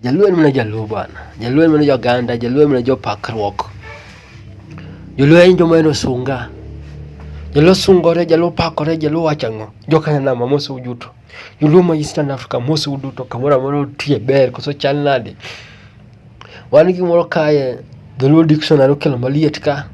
Jaluo en mana Jaluo bwana. Jaluo en mana Joganda, Jaluo en mana jopakruok. Joluo en joma en osunga. Joluo sungore, Jaluo pakore, Jaluo wacho ang'o? Jokanyanama mose uduto. Joluo ma Eastern Africa mose uduto kamoro amora otie ber koso chal nade? Wan gi gimoro kae Joluo dictionary okelo maliet ka.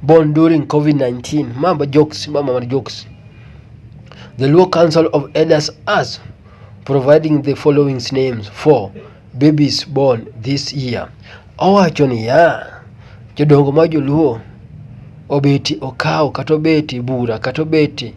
Born during COVID-19. Mamba jokes, mama mar jokes. The Luo Council of Elders as providing the following names for babies born this year. Owacho niya, jodongo ma joluo obeti okawo kata obeti bura kata obeti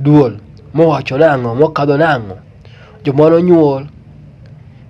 duol mowacho nang'o mokadho nang'o joma nonyuol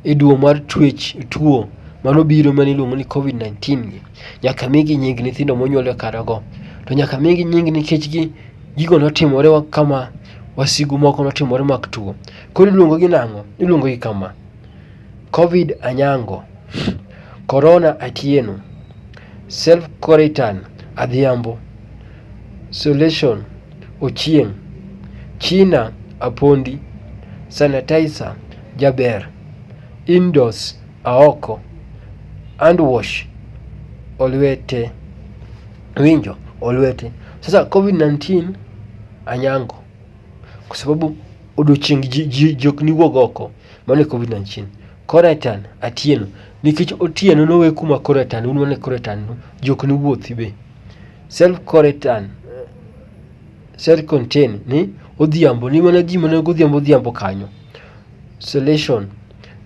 e duo mar twech tuo mano biro mane iluongo ni covid-19 gi nyaka migi nying nyithindo monyuol e karago to nyaka migi nying nikech gi gigo notimore kama wasigu moko notimore mag tuo. Koro iluongo gi nang'o? Iluongo gi kama. Covid Anyango, Corona Atieno, Self Quarantine Adhiambo, Solution Ochieng, China Apondi, Sanitizer Jaber, Indoors Aoko, Hand Wash Olwete. Winjo? Olwete. Sasa Covid-19 Anyango. Kwa sababu odiochieng' ji, ji, ji ok niwuog oko. Mano e COVID-19. Koretan, Atieno. Nikech Otieno nowe kuma koretan, un wane koretan, no, ji ok niwuothi be. Self koretan, self contain ni odhiambo, ni mana ji mana godhiambo odhiambo kanyo. Selection,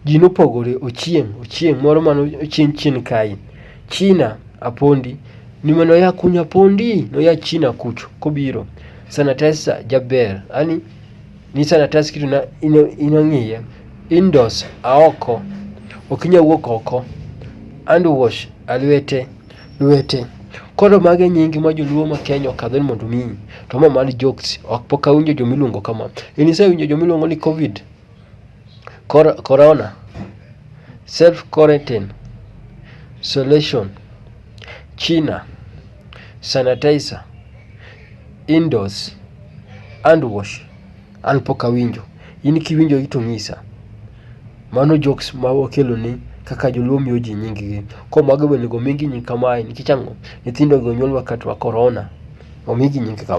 Ji nopogore, Ochieng', Ochieng', moro mano Ochieng chien kae. China, Apondi, ni mano ya kunya Apondi, noya China kucho kobiro. Sanitizer, Jaber, yaani ni sanitize kitu na ino ino ng'iye. Indoors, Aoko, ok inya wuok oko. Hand wash, Alwete, lwete. Koro magi e nyingi ma joluo ma Kenya okadho ni mondo omiyi. To ma mar jokes, ok pok awinjo jomiluongo kama. In isewinjo jomiluongo ni Covid? Corona? Self quarantine? Solution? China? Sanitizer? Indoors? Hand wash? An pok awinjo. In kiwinjogi to ng'isa. Mano jokes ma wakeloni kaka joluo miyo ji nying gi. Koro mago be onego omigi nying kamae nikech ang'o? Nyithindogi onyuolwa ka tuo korona. Omigi nying kaka.